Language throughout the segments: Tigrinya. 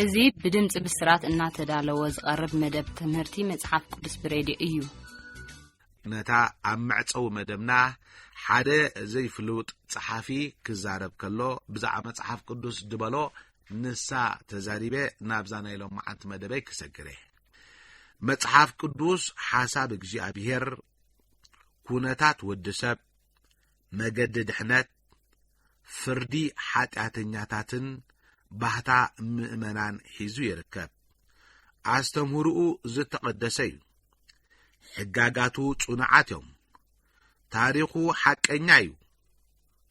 እዚ ብድምፂ ብስራት እናተዳለወ ዝቐርብ መደብ ትምህርቲ መፅሓፍ ቅዱስ ብሬድዮ እዩ። ነታ ኣብ መዕፀዊ መደብና ሓደ ዘይፍሉጥ ጸሓፊ ክዛረብ ከሎ ብዛዕባ መጽሓፍ ቅዱስ ድበሎ ንሳ ተዛሪበ ናብዛ ናይ ሎም መዓንቲ መደበይ ክሰግረ መጽሓፍ ቅዱስ ሓሳብ እግዚኣብሄር ኩነታት ወዲ ሰብ መገዲ ድሕነት ፍርዲ ሓጢኣተኛታትን ባህታ ምእመናን ሒዙ ይርከብ። ኣስተምህርኡ ዝተቐደሰ እዩ። ሕጋጋቱ ጽኑዓት እዮም። ታሪኹ ሓቀኛ እዩ።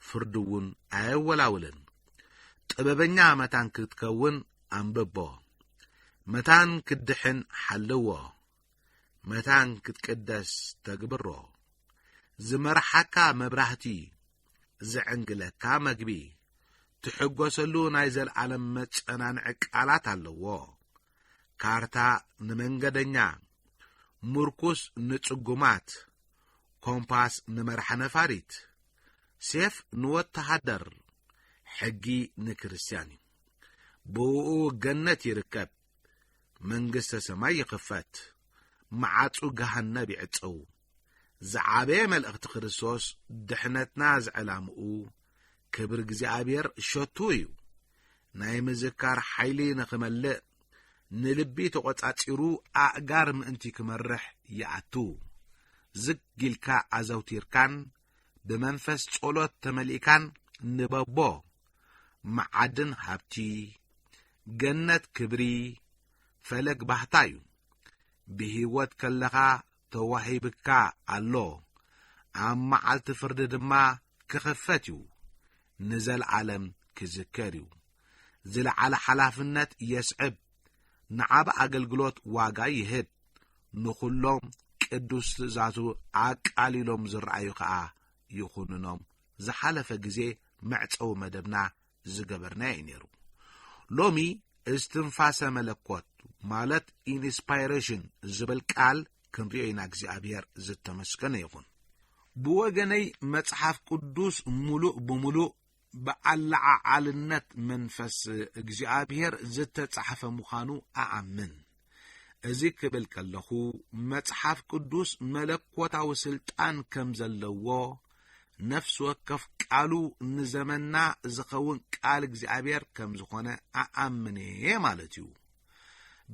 ፍርዱ እውን ኣየወላውልን። ጥበበኛ መታን ክትከውን ኣንብቦ። መታን ክትድሕን ሓልዎ። መታን ክትቅደስ ተግብሮ። ዝመርሓካ መብራህቲ ዘዕንግለካ መግቢ፣ ትሕጐሰሉ ናይ ዘለዓለም መጸናንዒ ቃላት ኣለዎ። ካርታ ንመንገደኛ፣ ምርኩስ ንጽጉማት፣ ኮምፓስ ንመራሕ ነፋሪት፣ ሴፍ ንወተሃደር፣ ሕጊ ንክርስትያን እዩ። ብእኡ ገነት ይርከብ፣ መንግስተ ሰማይ ይኽፈት፣ መዓጹ ገሃነብ ይዕጸው። ዝዓበየ መልእኽቲ ክርስቶስ ድሕነትና ዝዕላምኡ ክብሪ እግዚኣብሔር ሸቱ እዩ። ናይ ምዝካር ሓይሊ ንኽመልእ ንልቢ ተቖጻጺሩ ኣእጋር ምእንቲ ክመርሕ ይኣቱ። ዝግ ኢልካ ኣዘውቲርካን ብመንፈስ ጸሎት ተመሊእካን ንበቦ መዓድን ሃብቲ ገነት ክብሪ ፈለግ ባህታ እዩ። ብህይወት ከለኻ ተዋሂብካ ኣሎ፣ ኣብ መዓልቲ ፍርዲ ድማ ክኽፈት እዩ፣ ንዘልኣለም ክዝከር እዩ። ዝለዓለ ሓላፍነት የስዕብ፣ ንዓቢ ኣገልግሎት ዋጋ ይህብ፣ ንኹሎም ቅዱስ ትእዛዙ ኣቃሊሎም ዝረኣዩ ከኣ ይኹንኖም። ዝሓለፈ ግዜ መዕጸዊ መደብና ዝገበርናዮ እዩ ነይሩ ሎሚ እስትንፋሰ መለኮት ማለት ኢንስፓይሬሽን ዝብል ቃል ክንሪኦ ኢና እግዚኣብሔር ዝተመስገነ ይኹን ብወገነይ መጽሓፍ ቅዱስ ምሉእ ብምሉእ ብኣለዓዓልነት መንፈስ እግዚኣብሔር ዝተጻሕፈ ምዃኑ ኣኣምን እዚ ክብል ከለኹ መጽሓፍ ቅዱስ መለኮታዊ ስልጣን ከም ዘለዎ ነፍሲ ወከፍ ቃሉ ንዘመና ዝኸውን ቃል እግዚኣብሔር ከም ዝኾነ ኣኣምን እየ ማለት እዩ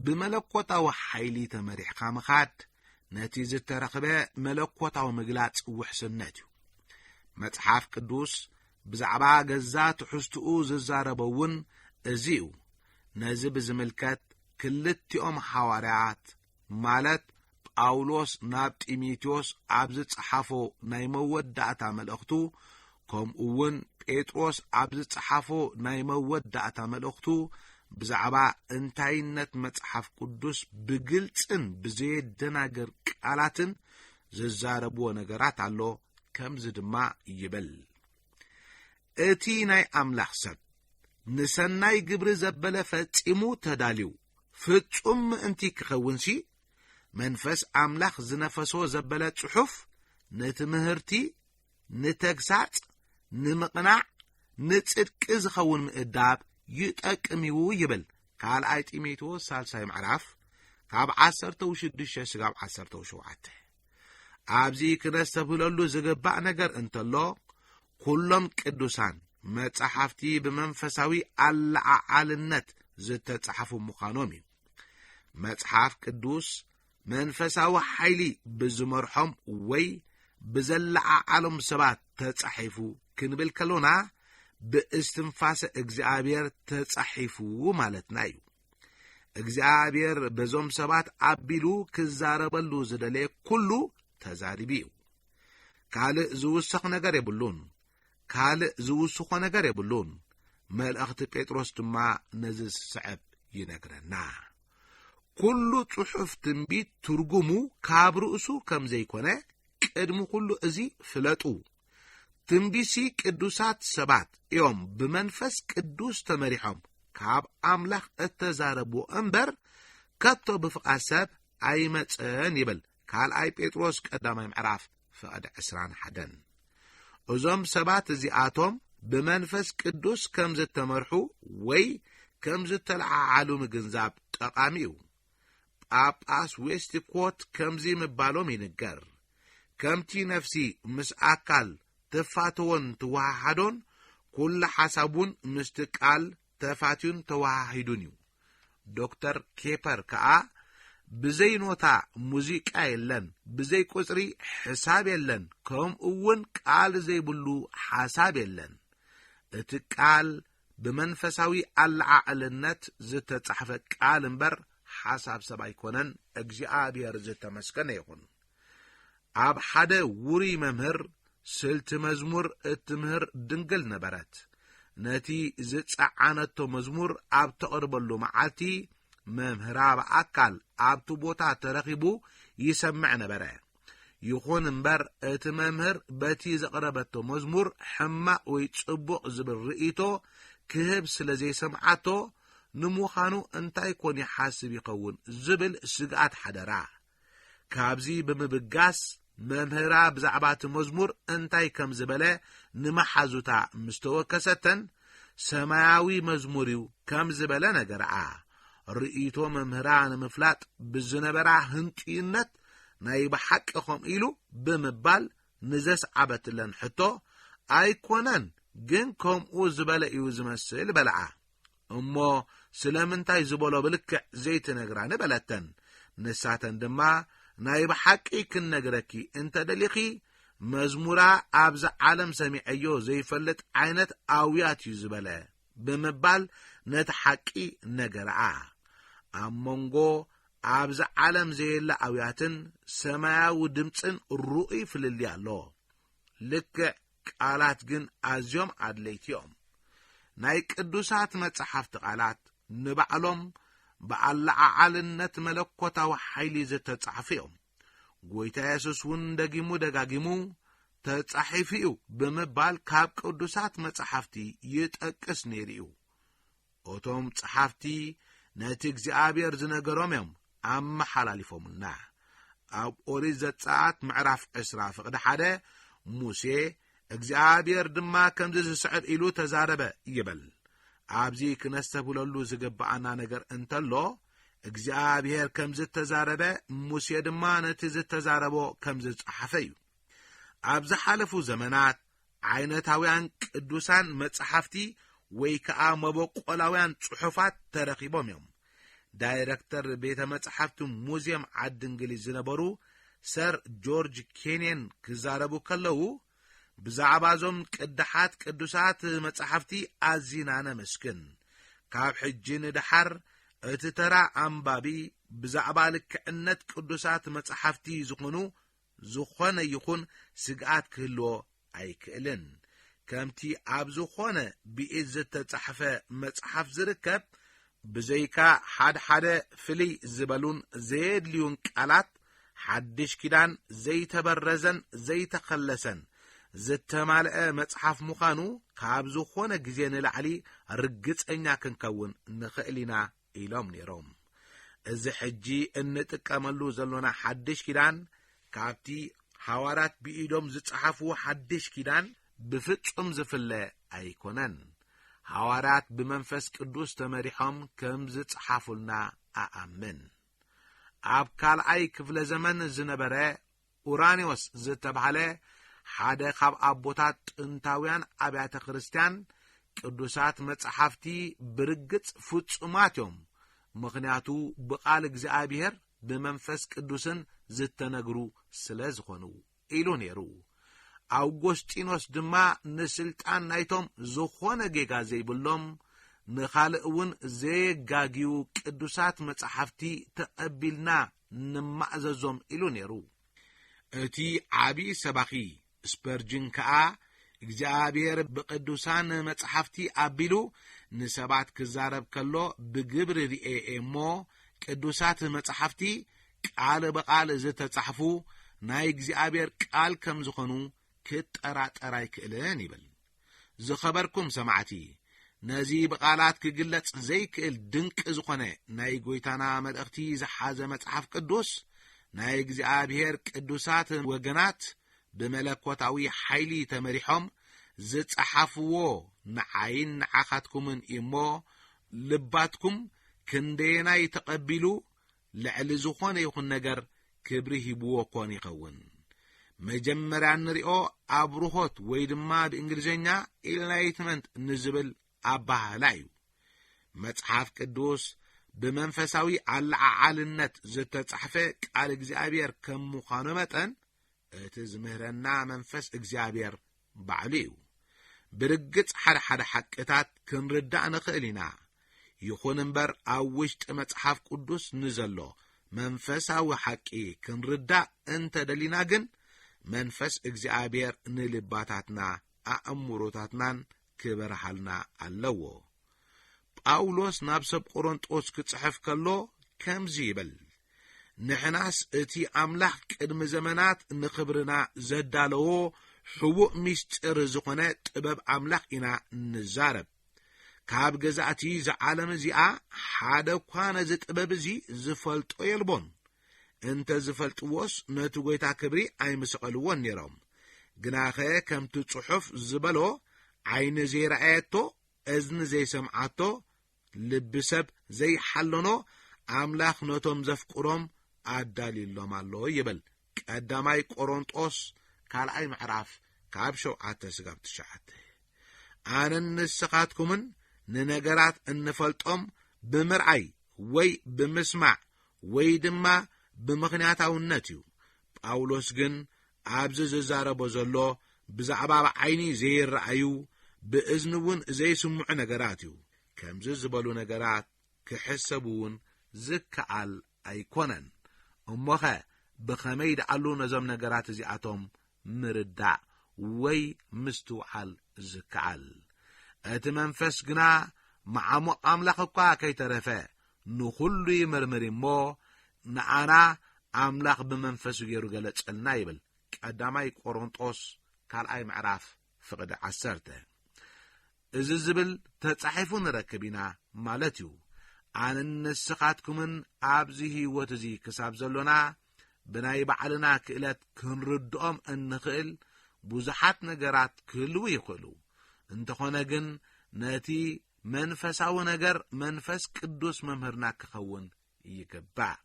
ብመለኮታዊ ሓይሊ ተመሪሕካ ምኻድ ነቲ ዝተረኽበ መለኮታዊ ምግላጽ ውሕስነት እዩ መጽሓፍ ቅዱስ ብዛዕባ ገዛ ትሕዝትኡ ዝዛረበ እውን እዚ እዩ ነዚ ብዝምልከት ክልቲኦም ሓዋርያት ማለት ጳውሎስ ናብ ጢሞቴዎስ ኣብ ዝጸሓፎ ናይ መወዳእታ መልእኽቱ ከምኡ እውን ጴጥሮስ ኣብ ዝጸሓፎ ናይ መወዳእታ መልእኽቱ ብዛዕባ እንታይነት መጽሓፍ ቅዱስ ብግልጽን ብዘየደናግር ቃላትን ዝዛረብዎ ነገራት ኣሎ ከምዚ ድማ ይብል እቲ ናይ ኣምላኽ ሰብ ንሰናይ ግብሪ ዘበለ ፈጺሙ ተዳልዩ ፍጹም ምእንቲ ኪኸውንሲ፣ መንፈስ ኣምላኽ ዝነፈሶ ዘበለ ጽሑፍ ንትምህርቲ፣ ንተግሳጽ፣ ንምቕናዕ፣ ንጽድቂ ዚኸውን ምእዳብ ይጠቅምዩ ይብል ካልኣይ ጢሞቴዎስ ሳልሳይ ምዕራፍ ካብ ዓሰርተው ሽዱሽተ ስጋብ ዓሰርተው ሸውዓተ ኣብዚ ክነስተብህለሉ ዝግባእ ነገር እንተሎ ኩሎም ቅዱሳን መጻሕፍቲ ብመንፈሳዊ ኣለዓዓልነት ዝተጻሕፉ ምዃኖም እዩ። መጽሓፍ ቅዱስ መንፈሳዊ ሓይሊ ብዝመርሖም ወይ ብዘለዓዓሎም ሰባት ተጻሒፉ ክንብል ከሎና ብእስትንፋሰ እግዚኣብሔር ተጻሒፉ ማለትና እዩ። እግዚኣብሔር በዞም ሰባት ኣቢሉ ክዛረበሉ ዝደለየ ኩሉ ተዛሪቡ እዩ። ካልእ ዝውሰኽ ነገር የብሉን። ካልእ ዝውስኾ ነገር የብሉን። መልእኽቲ ጴጥሮስ ድማ ነዚ ዝስዕብ ይነግረና ኩሉ ጽሑፍ ትንቢት ትርጉሙ ካብ ርእሱ ከም ዘይኮነ ቅድሚ ኩሉ እዚ ፍለጡ ትንቢሲ ቅዱሳት ሰባት እዮም ብመንፈስ ቅዱስ ተመሪሖም ካብ ኣምላኽ እተዛረብዎ እምበር ከቶ ብፍቓድ ሰብ ኣይመጸን ይብል ካልኣይ ጴጥሮስ ቀዳማይ ምዕራፍ ፍቐድ ዕስራን ሓደን እዞም ሰባት እዚኣቶም ብመንፈስ ቅዱስ ከም ዝተመርሑ ወይ ከም ዝተለዓዓሉ ምግንዛብ ጠቓሚ እዩ ጳጳስ ዌስትኮት ከምዚ ምባሎም ይንገር ከምቲ ነፍሲ ምስ ኣካል ትፋተዎን ትወሃሃዶን ኩሉ ሓሳብ እውን ምስቲ ቃል ተፋትዩን ተወሃሂዱን እዩ። ዶክተር ኬፐር ከኣ ብዘይ ኖታ ሙዚቃ የለን፣ ብዘይ ቁጽሪ ሕሳብ የለን፣ ከምኡውን ቃል ዘይብሉ ሓሳብ የለን። እቲ ቃል ብመንፈሳዊ ኣለዓዕልነት ዝተጻሕፈ ቃል እምበር ሓሳብ ሰብ ኣይኮነን፣ እግዚኣብሔር ዝተመስገነ ይኹን። ኣብ ሓደ ውሩይ መምህር ስልቲ መዝሙር እትምህር ድንግል ነበረት። ነቲ ዝጸዓነቶ መዝሙር ኣብ ተቕርበሉ መዓልቲ መምህራ ብኣካል ኣብቲ ቦታ ተረኺቡ ይሰምዕ ነበረ። ይኹን እምበር እቲ መምህር በቲ ዘቕረበቶ መዝሙር ሕማቕ ወይ ጽቡቕ ዝብል ርእይቶ ክህብ ስለ ዘይሰምዓቶ ንምዃኑ እንታይ ኮን ይሓስብ ይኸውን ዝብል ስግኣት ሓደራ። ካብዚ ብምብጋስ መምህራ ብዛዕባ እቲ መዝሙር እንታይ ከም ዝበለ ንመሓዙታ ምስ ተወከሰተን፣ ሰማያዊ መዝሙር እዩ ከም ዝበለ ነገርኣ። ርእይቶ መምህራ ንምፍላጥ ብዝነበራ ህንጡይነት ናይ ብሓቂ ከምኡ ኢሉ ብምባል ንዘስዓበትለን ሕቶ ኣይኮነን ግን ከምኡ ዝበለ እዩ ዝመስል በልኣ። እሞ ስለምንታይ ዝበሎ ብልክዕ ዘይትነግራኒ በለተን ንሳተን ድማ ናይ ብሓቂ ክንነግረኪ እንተ ደሊኺ መዝሙራ ኣብዛ ዓለም ሰሚዐዮ ዘይፈልጥ ዓይነት ኣውያት እዩ ዝበለ ብምባል ነቲ ሓቂ ነገረኣ ኣብ መንጎ ኣብዚ ዓለም ዘየለ ኣውያትን ሰማያዊ ድምፅን ርኡይ ፍልልይ ኣሎ ልክዕ ቃላት ግን ኣዝዮም ኣድለይቲ እዮም። ናይ ቅዱሳት መጻሕፍቲ ቃላት ንባዕሎም ብኣለዓዓልነት መለኮታዊ ሓይሊ ዝተጻሕፉ እዮም። ጐይታ የሱስ እውን ደጊሙ ደጋጊሙ ተጻሒፉ እዩ ብምባል ካብ ቅዱሳት መጻሕፍቲ ይጠቅስ ነይሩ እዩ። እቶም ጸሓፍቲ ነቲ እግዚኣብሔር ዝነገሮም እዮም ኣመሓላሊፎምልና ኣብ ኦሪት ዘጸኣት ምዕራፍ ዕስራ ፍቕዲ ሓደ ሙሴ እግዚኣብሔር ድማ ከምዚ ዝስዕብ ኢሉ ተዛረበ ይበል ኣብዚ ክነስተብህለሉ ዝግብኣና ነገር እንተሎ እግዚኣብሔር ከም ዝተዛረበ ሙሴ ድማ ነቲ ዝተዛረቦ ከም ዝጸሓፈ እዩ ኣብ ዝሓለፉ ዘመናት ዓይነታውያን ቅዱሳን መጻሕፍቲ ወይ ከኣ መበቆላውያን ጽሑፋት ተረኺቦም እዮም። ዳይረክተር ቤተ መጻሕፍቲ ሙዝየም ዓዲ እንግሊዝ ዝነበሩ ሰር ጆርጅ ኬንየን ክዛረቡ ከለዉ ብዛዕባ እዞም ቅዳሓት ቅዱሳት መጻሕፍቲ ኣዚና ነመስግን። ካብ ሕጂ ንደሓር እቲ ተራ ኣንባቢ ብዛዕባ ልክዕነት ቅዱሳት መጻሕፍቲ ዝኹኑ ዝኾነ ይኹን ስግኣት ክህልዎ ኣይክእልን። ከምቲ ኣብ ዝኾነ ብኢድ ዝተጻሕፈ መጽሓፍ ዝርከብ፣ ብዘይካ ሓድሓደ ፍልይ ዝበሉን ዘየድልዩን ቃላት፣ ሓድሽ ኪዳን ዘይተበረዘን ዘይተኸለሰን ዝተማልአ መጽሓፍ ምዃኑ ካብ ዝኾነ ግዜ ንላዕሊ ርግጸኛ ክንከውን ንኽእል ኢና ኢሎም ነይሮም። እዚ ሕጂ እንጥቀመሉ ዘሎና ሓድሽ ኪዳን ካብቲ ሃዋርያት ብኢዶም ዝጸሓፍዎ ሓድሽ ኪዳን ብፍጹም ዝፍለ ኣይኮነን። ሃዋርያት ብመንፈስ ቅዱስ ተመሪሖም ከም ዝጸሓፉልና እኣምን። ኣብ ካልኣይ ክፍለ ዘመን ዝነበረ ኡራኒዎስ ዝተባህለ ሓደ ካብ ኣቦታት ጥንታውያን ኣብያተ ክርስቲያን ቅዱሳት መጻሕፍቲ ብርግጽ ፍጹማት እዮም፣ ምኽንያቱ ብቓል እግዚኣብሔር ብመንፈስ ቅዱስን ዝተነግሩ ስለ ዝኾኑ ኢሉ ነይሩ። ኣውጎስጢኖስ ድማ ንስልጣን ናይቶም ዝኾነ ጌጋ ዘይብሎም ንኻልእ እውን ዘየጋግዩ ቅዱሳት መጻሕፍቲ ተቐቢልና ንማእዘዞም ኢሉ ነይሩ። እቲ ዓቢ ሰባኺ ስፐርጅን ከኣ እግዚኣብሔር ብቅዱሳን መጽሓፍቲ ኣቢሉ ንሰባት ክዛረብ ከሎ ብግብሪ ርኤ እሞ ቅዱሳት መጽሓፍቲ ቃል ብቓል ዝተጻሕፉ ናይ እግዚኣብሔር ቃል ከም ዝኾኑ ክጠራጠር ኣይክእልን ይብል። ዝኸበርኩም ሰማዕቲ፣ ነዚ ብቓላት ክግለጽ ዘይክእል ድንቂ ዝኾነ ናይ ጐይታና መልእኽቲ ዝሓዘ መጽሓፍ ቅዱስ፣ ናይ እግዚኣብሔር ቅዱሳት ወገናት ብመለኮታዊ ሓይሊ ተመሪሖም ዝጸሓፍዎ ንዓይን ንዓኻትኩምን እዩ እሞ፣ ልባትኩም ክንደየናይ ተቐቢሉ ልዕሊ ዝኾነ ይኹን ነገር ክብሪ ሂብዎ ኮን ይኸውን። መጀመርያ እንሪኦ ኣብርሆት ወይ ድማ ብእንግሊዝኛ ኢንላይትመንት ንዝብል ኣባህላ እዩ። መጽሓፍ ቅዱስ ብመንፈሳዊ ኣለዓዓልነት ዝተጻሕፈ ቃል እግዚኣብሔር ከም ምዃኑ መጠን እቲ ዝምህረና መንፈስ እግዚኣብሔር ባዕሉ እዩ። ብርግጽ ሓደ ሓደ ሓቅታት ክንርዳእ ንኽእል ኢና። ይኹን እምበር ኣብ ውሽጢ መጽሓፍ ቅዱስ ንዘሎ መንፈሳዊ ሓቂ ክንርዳእ እንተ ደሊና ግን መንፈስ እግዚኣብሔር ንልባታትና ኣእምሮታትናን ክበርሃልና ኣለዎ። ጳውሎስ ናብ ሰብ ቆሮንጦስ ክጽሕፍ ከሎ ከምዚ ይብል፣ ንሕናስ እቲ ኣምላኽ ቅድሚ ዘመናት ንኽብርና ዘዳለዎ ሕቡእ ምስጢር ዝኾነ ጥበብ ኣምላኽ ኢና ንዛረብ። ካብ ገዛእቲ እዚ ዓለም እዚኣ ሓደ እኳ ነዚ ጥበብ እዚ ዝፈልጦ የልቦን። እንተ ዝፈልጥዎስ ነቲ ጐይታ ክብሪ ኣይምሰቐልዎን ነይሮም። ግናኸ ከምቲ ጽሑፍ ዝበሎ ዓይኒ ዘይረኣየቶ እዝኒ ዘይሰምዓቶ ልቢ ሰብ ዘይሓለኖ ኣምላኽ ነቶም ዘፍቅሮም ኣዳልዩሎም ኣሎ ይብል ቀዳማይ ቆሮንጦስ ካልኣይ ምዕራፍ ካብ ሸውዓተ ስጋብ ትሽዓተ ኣነን ንስኻትኩምን ንነገራት እንፈልጦም ብምርኣይ ወይ ብምስማዕ ወይ ድማ ብምኽንያታውነት እዩ ጳውሎስ ግን ኣብዚ ዝዛረቦ ዘሎ ብዛዕባ ብ ዓይኒ ዘይረኣዩ ብ እዝኒ እውን ዘይስምዑ ነገራት እዩ። ከምዚ ዝበሉ ነገራት ክሕሰቡ እውን ዝከኣል ኣይኮነን። እሞኸ ብኸመይ ደኣሉ ነዞም ነገራት እዚኣቶም ምርዳእ ወይ ምስትውዓል ዝከኣል? እቲ መንፈስ ግና መዓሙቕ ኣምላኽ እኳ ከይተረፈ ንኹሉ ይምርምር እሞ ንኣና ኣምላኽ ብመንፈሱ ገይሩ ገለጸልና ይብል ቀዳማይ ቆሮንጦስ ካልኣይ ምዕራፍ ፍቕዲ ዓሰርተ እዚ ዝብል ተጻሒፉ ንረክብ ኢና ማለት እዩ ኣንን ንስኻትኩምን ኣብዚ ህይወት እዚ ክሳብ ዘሎና ብናይ ባዕልና ክእለት ክንርድኦም እንኽእል ብዙሓት ነገራት ክህልው ይኽእሉ እንተኾነ ግን ነቲ መንፈሳዊ ነገር መንፈስ ቅዱስ መምህርና ክኸውን ይግባእ።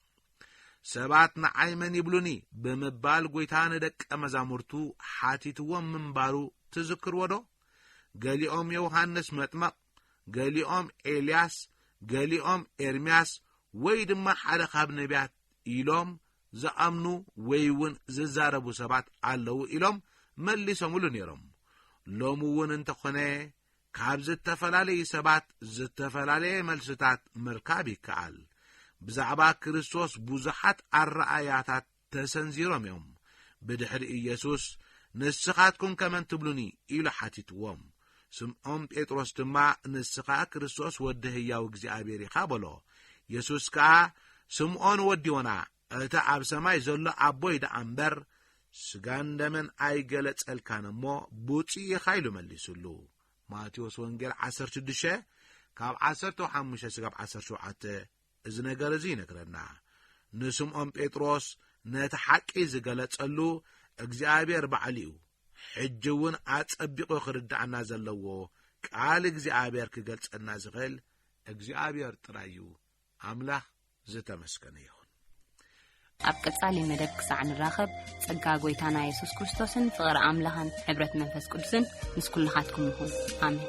ሰባት ንዓይ መን ይብሉኒ ብምባል ጐይታ ንደቀ መዛሙርቱ ሓቲትዎም ምንባሩ ትዝክርዎ ዶ? ገሊኦም ዮውሃንስ መጥመቕ፣ ገሊኦም ኤልያስ፣ ገሊኦም ኤርምያስ ወይ ድማ ሓደ ካብ ነቢያት ኢሎም ዝኣምኑ ወይ እውን ዝዛረቡ ሰባት ኣለዉ ኢሎም መሊሶምሉ ነይሮም። ሎሚ እውን እንተኾነ ካብ ዝተፈላለዩ ሰባት ዝተፈላለየ መልስታት ምርካብ ይከኣል። ብዛዕባ ክርስቶስ ብዙሓት ኣረኣእያታት ተሰንዚሮም እዮም። ብድሕሪ ኢየሱስ ንስኻትኩም ከመን ትብሉኒ ኢሉ ሓቲትዎም። ስምዖም ጴጥሮስ ድማ ንስኻ ክርስቶስ ወዲ ህያው እግዚኣብሔር ኢኻ በሎ። የሱስ ከኣ ስምዖን ወዲ ዮና እቲ ኣብ ሰማይ ዘሎ ኣቦይ ደኣ እምበር ስጋን ደምን ኣይገለጸልካን እሞ ብፁዕ ኢኻ ኢሉ መሊሱሉ። ማቴዎስ ወንጌል 16 ካብ 15 ስጋብ 17 እዚ ነገር እዚ ይነግረና። ንስምዖን ጴጥሮስ ነቲ ሓቂ ዝገለጸሉ እግዚኣብሔር ባዕሉ እዩ። ሕጂ እውን ኣጸቢቑ ክርድኣና ዘለዎ ቃል እግዚኣብሔር ክገልጸልና ዝኽእል እግዚኣብሔር ጥራይ እዩ። ኣምላኽ ዝተመስገነ ይኹን። ኣብ ቀጻሊ መደብ ክሳዕ ንራኸብ ጸጋ ጎይታና የሱስ ክርስቶስን ፍቕሪ ኣምላኽን ሕብረት መንፈስ ቅዱስን ምስ ኩልኻትኩም ይኹን ኣሜን